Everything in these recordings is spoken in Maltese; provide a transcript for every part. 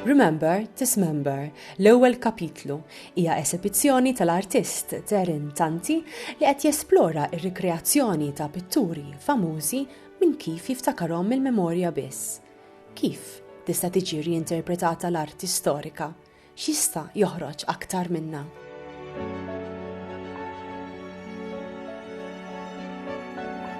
Remember, Dismember, l-ewwel kapitlu, hija esibizzjoni tal-artist Darren Tanti li qed jesplora r-rikreazzjoni ta' pitturi famużi minn kif jiftakarhom mill-memorja biss. Kif tista' tiġi riinterpretata l-arti storika? X'jista' joħroġ aktar minna?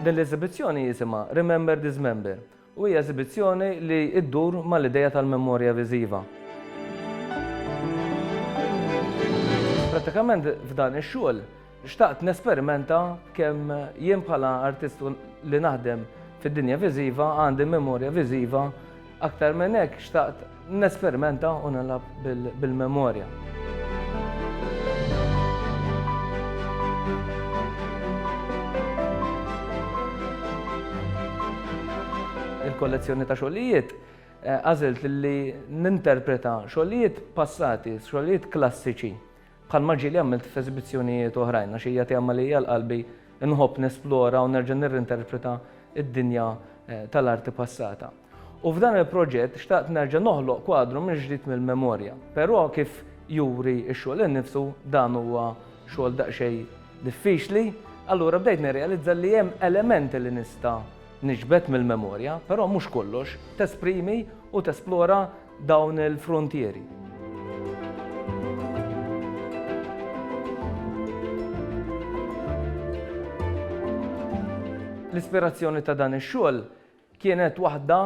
Din l-eżibizzjoni jisimha Remember Dismember u hija eżibizzjoni li ddur mal-idea tal-memorja viżiva. Prattikament f'dan ix-xogħol Xtaqt nesperimenta kemm jien bħala artist u li naħdem fid-dinja viżiva għandi memorja viżiva, aktar minn hekk xtaqt nesperimenta u nilgħab bil-memorja. Il-kollezzjoni ta' xogħlijiet għażilt li ninterpreta xogħlijiet passati, xogħlijiet klassiċi Bħalma ġieli għamilt f'eżibizzjonijiet oħrajn, għax hija tema li hija għal qalbi, inħobb nesplora u nerġa' nirrinterpreta d-dinja tal-arti passata. U f'dan il-proġett xtaqt nerġa' noħloq kwadru mill-ġdid mill-memorja. Però kif juri x-xogħol innifsu, dan huwa xogħol daqsxejn diffiċli, allura bdejt nirrealizza li hemm elementi li nista' niġbed mill-memorja, però mhux kollox, tesprimi u tesplora dawn il-fruntieri. L-ispirazzjoni ta' dan ix-xogħol kienet waħda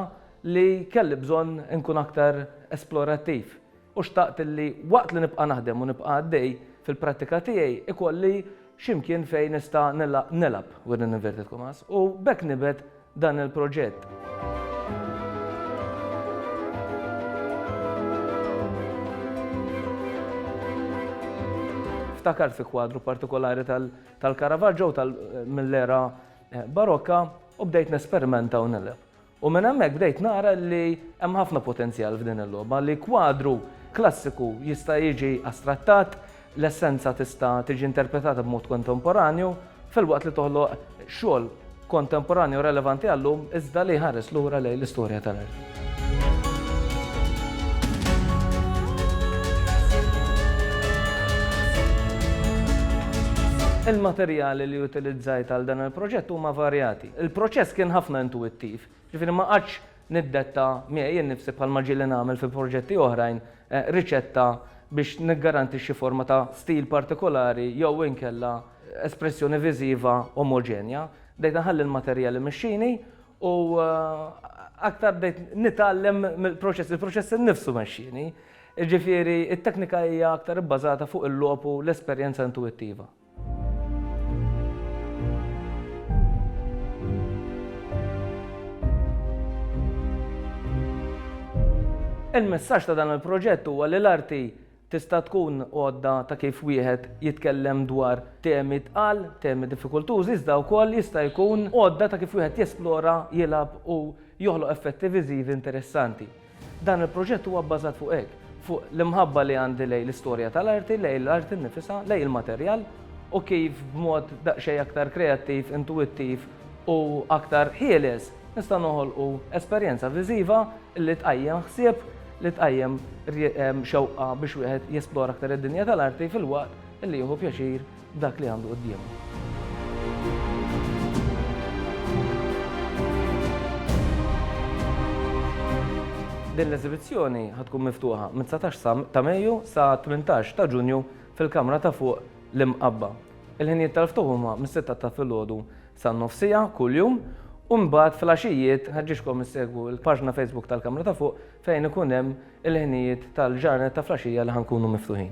li kelli bżonn inkun aktar esplorattiv u xtaqt li waqt li nibqa' naħdem u nibqa' għaddej fil-prattika tiegħi ikolli xi mkien fejn nista' nilgħab within inverted commas u b'hekk nibgħed dan il-proġett. Ftakar fi kwadru partikolari tal-Caravaggio mill-era eh, barokka u bdejt nesperimenta u nileb. U minn hemmhekk bdejt nara li hemm ħafna potenzjal f'din il-logħba li kwadru klassiku jista' jiġi astrattat, L-essenza tista' tiġi interpretata b'mod kontemporanju, filwaqt li toħloq xogħol kontemporanju relevanti għal-lum iżda li jħares lura lejn l-istorja tal-art. Il-materjali li utilizzajt għal dan il-proġett huma varjati. Il-proċess kien ħafna intuwittiv, jiġifieri ma qagħadx Niddetta miegħi innifsi bħalma ġieli nagħmel fi proġetti oħrajn riċetta biex niggarantixxi forma ta' stil partikolari jew inkella espressjoni viżiva omoġenja. Bdejt inħalli l-materjal imexxini u aktar bdejt nitgħallem mill-proċess, il-proċess innifsu mexxieni. Jiġifieri t-teknika hija aktar ibbażata fuq il-logħob u l-esperjenza intuwittiva. Il-messaġġ ta' dan il-proġett huwa li l-arti tista' tkun għodda ta' kif wieħed jitkellem dwar temi tqal, temi diffikultużi, iżda wkoll jista' jkun għodda ta' kif wieħed jesplora, jilgħab u joħloq effetti viżivi interessanti. Dan il-proġett huwa bbażat fuq hekk, fuq l-imħabba li għandi lejn l-istorja tal-arti, lejn l-arti nnifisha, lejn il-materjal, u kif b'mod daqsxejn aktar kreattiv, intuwittiv u aktar ħieles nista' noħolqu esperjenza viżiva li tqajjem ħsieb, li tqajjem xewqa biex wieħed jesplora aktar id-dinja tal-arti filwaqt li jieħu pjaċir dak li għandu quddiemu. Din l-eżibizzjoni ħa tkun miftuħa mit-19 ta' Mejju sa 18 ta' Ġunju fil-kamra ta' fuq l-Imqabba. Il-ħinijiet tal-ftuħ huma mis-sitta ta' filgħodu san-nofsija kuljum u mbagħad fil-għaxijiet nħeġġiġkom issegwu l-paġna Facebook tal-kamra ta' fuq fejn ikun hemm il-ħinijiet tal-ġranet ta' flaxija li ħa nkunu miftuħin.